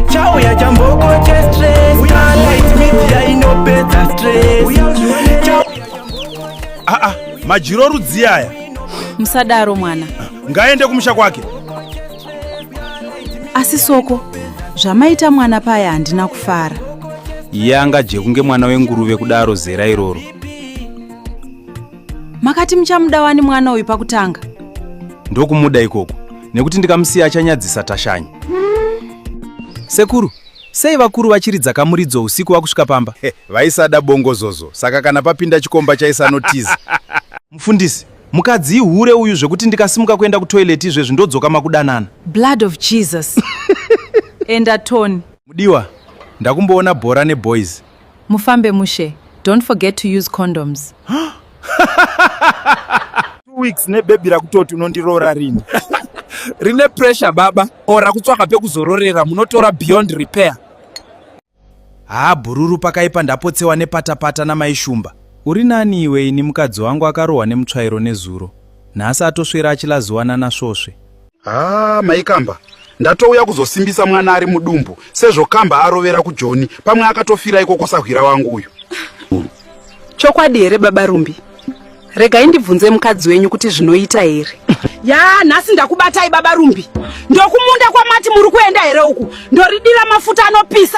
chauya chamboko chestress light media inopedza stress aa ah, ah, majiro rudzi aya musadaro mwana ngaende kumusha kwake asi soko zvamaita mwana paya handina kufara yanga jekunge mwana wenguruve kudaro zera iroro makati muchamuda wani mwana uyu pakutanga ndokumuda ikoko nekuti ndikamusiya achanyadzisa tashanyi sekuru sei vakuru vachiridza kamuridzo usiku wakusvika pamba hey, vaisada bongozozo saka kana papinda chikomba chaisanotiza mufundisi mukadzi ihure uyu zvekuti ndikasimuka kuenda kutoileti izvezvi ndodzoka makudanana blood of jesus enda tony mudiwa ndakumboona bhora neboys Mufambe mushe. Don't forget to use condoms. Two weeks ne baby rakutoti unondiroora rini. Rine pressure baba or rakutsvaka pekuzororera munotora beyond repair. Haa bhururu pakaipa ndapotsewa nepatapata namai shumba. Uri nani iwe ini mukadzi wangu akarohwa nemutsvairo nezuro. Nhasi atoswera achilaziwana nasvosve. haa maikamba ndatouya kuzosimbisa mwana ari mudumbu sezvo kamba arovera kujoni pamwe akatofira ikoko sahwira wangu uyu chokwadi here baba rumbi regai ndibvunze mukadzi wenyu kuti zvinoita here ya nhasi ndakubatai baba rumbi ndokumunda kwamati muri kuenda here uku ndoridira mafuta anopisa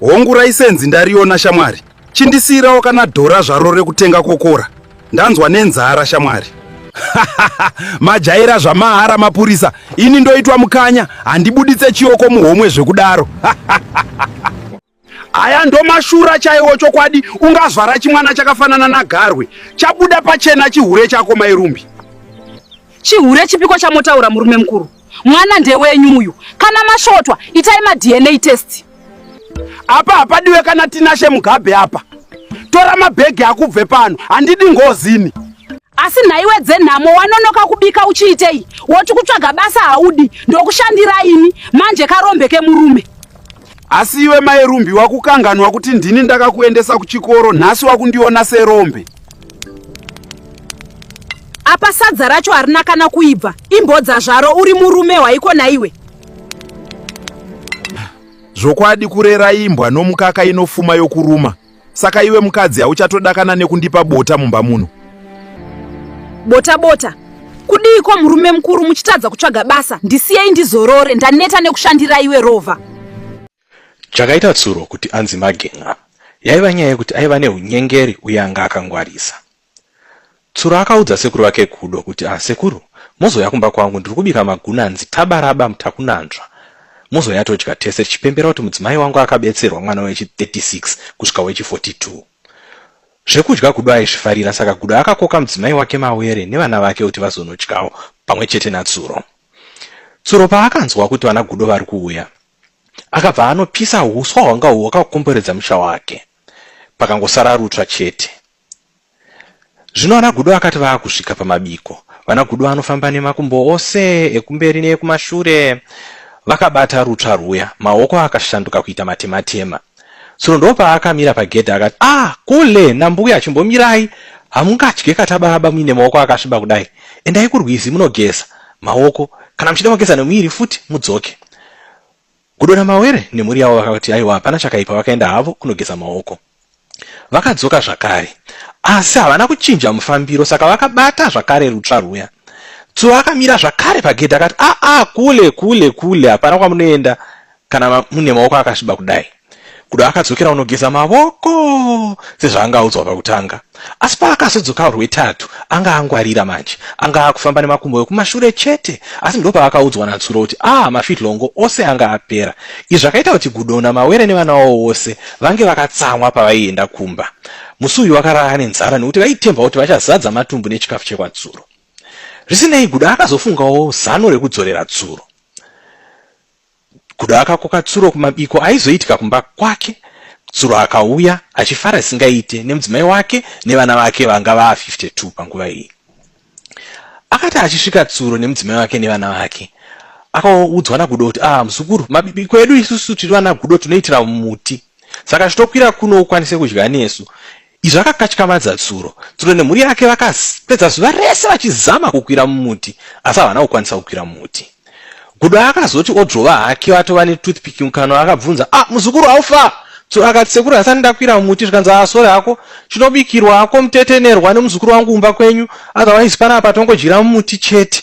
hongu raisenzi ndariona shamwari chindisiirawo kana dhora zvaro rekutenga kokora ndanzwa nenzara shamwari majaira zvamahara mapurisa ini ndoitwa mukanya handibuditse chioko muhomwe zvekudaro haya ndomashura chaiwo chokwadi ungazvara chimwana chakafanana nagarwe chabuda pachena chihure chako mairumbi chihure chipiko chamotaura murume mukuru Mwana ndewenyu uyu. Kana masvotwa, itai ma DNA test. Apa hapadiwe kana Tinashe Mugabe apa. Tora mabhegi akubve pano. Handidi ngozini. Asi nhaiwe dzenhamo wanonoka kubika uchiitei? Woti kutsvaga basa haudi, ndokushandira ini. Manje karombe kemurume. asi iwe mai rumbi wakukanganwa kuti ndini ndakakuendesa kuchikoro nhasi wakundiona serombe apa sadza racho harina kana kuibva imbodza zvaro uri murume waiko naiwe zvokwadi kurera imbwa nomukaka inofuma yokuruma Saka iwe mukadzi hauchatodakana nekundipa bota mumba muno? Bota bota. Kudiiko murume mukuru muchitadza kutsvaga basa? Ndisiyei ndizorore, ndaneta nekushandira iwe rova. Chakaita Tsuro kuti anzi Magen'a yaiva nyaya yekuti aiva neunyengeri uye anga akangwarisa. Tsuro akaudza sekuru vake Gudo kuti ah sekuru mozouya kumba kwangu ndiri kubika magunanzi tabaraba mutakunanzva mozouya todya tese tichipembera kuti mudzimai wangu akabetserwa mwana wechi 36 kusvika wechi 42. Zvekudya Gudo aizvifarira saka Gudo akakoka mudzimai wake Mawere nevana vake kuti vazonodyawo pamwe chete naTsuro. Tsuro paakanzwa kuti vana Gudo vari kuuya akabva anopisa huswa hwanga hwakakomberedza musha wake pakangosara rutsva chete. Zvino ana Gudo akati vaakusvika pamabiko, vana Gudo vanofamba nemakumbo ose ekumberi neekumashure vakabata rutsva rwuya, maoko akashanduka kuita matematema. Tsono ndoopaakamira pagedhe akati, ah, kule nambuya chimbomirai, hamungadye kata baba muine maoko akasviba kudai, endai kurwizi munogeza maoko, kana muchida kugeza nemuviri futi mudzoke. Gudo naMawere nemhuri yavo vakati aiwa hapana chakaipa vakaenda havo kunogeza maoko. Vakadzoka zvakare asi havana kuchinja mufambiro saka vakabata zvakare rutsva rwuya. Tsuva akamira zvakare pagedhi akati aa ah, ah, kule kule kule hapana kwamunoenda kana mune maoko akasviba kudai. Kudo akadzokera kunogeza mavoko sezvaanga audzwa pakutanga, asi paakazodzoka rwetatu anga angwarira manje. Anga akufamba nemakumbo ekumashure chete, asi ndopaakaudzwa naTsuro kuti ah mafitlongo ose anga apera. Izvi zvakaita kuti Gudo naMawere nevana wavo vose vange vakatsamwa pavaienda kumba. Musi uyu vakarara nenzara nekuti vaitemba kuti vachazadza matumbu nechikafu chekwaTsuro. Zvisinei, Gudo akazofungawo zano rekudzorera Tsuro. Kuda akakoka Tsuro kumabiko aizoitika kumba kwake. Tsuro akauya achifara zvisingaite nemudzimai wake nevana vake vanga vaa 52 panguva iyi. Akati achisvika Tsuro nemudzimai wake nevana vake akaudzwa naGudo kuti ah muzukuru mabiko edu isusu tiri vana Gudo tunoitira muti saka chitokwira kuno ukwanise kudya nesu Izvi akakatyavadza Tsuro. Tsuro nemhuri yake vakapedza zuva rese vachizama kukwira mumuti asi havana kukwanisa kukwira muti. Gudo akazoti odrova hake vatova netoothpick mukanwa akabvunza, ah muzukuru haufa? Tsuro akati sekuru hasani ndakwira mumuti zvikanzi ah sore hako chinobikirwa hako mutetenerwa nemuzukuru wangu kumba kwenyu otherwise panapa tongodyira mumuti chete.